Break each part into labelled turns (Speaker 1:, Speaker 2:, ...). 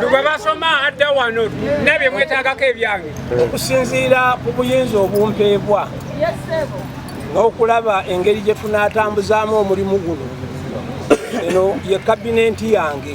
Speaker 1: lugwe basoma adda wano nabye mwetagako ebyange okusinziira ku buyinza obumpeebwa n'okulaba engeri gye tunaatambuzaamu omulimu guno eno ye kabinenti yange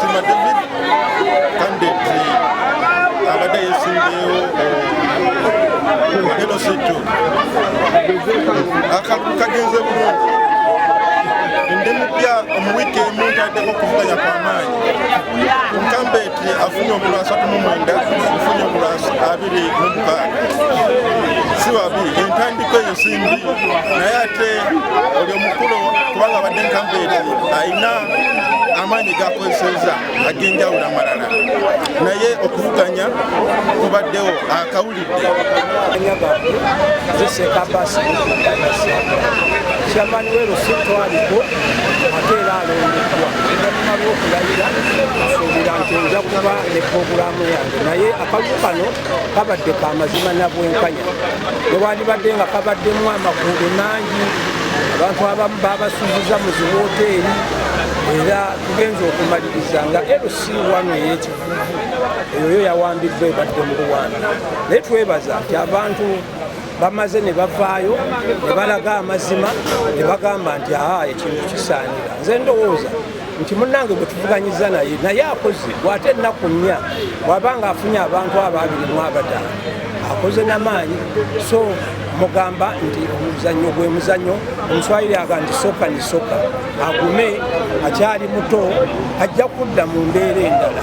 Speaker 1: Sima
Speaker 2: David candidate abadde yesimbeewo eno sitto akalulu kagenze bulungi ndi mupya mu wiiki emu ntaddeko okuvuganya kwa maanyi nkambeeti afunye obulu asatu mu mwenda nfunye obulu abiri mu mukaaga si babi entandiko eyo simbi naye ate omukulu kubanga abadde nkampeeri alina amaanyi gakozeseza ag'enjawulo amalala naye okuvuganya kubaddewo akawulidde kyamani we lusitwaliku ate era alondeddwa oluvanyuma lwokulayira asuubira nti nja kuba ne pogulaamu yange naye akalulu kano kabadde ka mazima na bwenkanya newandibadde nga kabaddemu amakuudo mangi abantu abamu babasuziza mu ziwoteeri era tugenza okumaliriza nga lc wano eyekivuvu eyoyo yawambiddwa ebadde mu luwanda naye twebaza nti abantu bamaze ne bavaayo ne balaga amazima ne bagamba nti aa ekintu kisaanira nze ndowooza nti munnange gwe tuvuganyiza naye naye akoze gwate ennaku nnya waba nga afunye abantu abo abiri mu abadala akoze namaanyi so mugamba nti omuzannyo gwe muzannyo omuswayiri aga nti soka ni soka agume akyali muto ajja kudda mu mbeera endala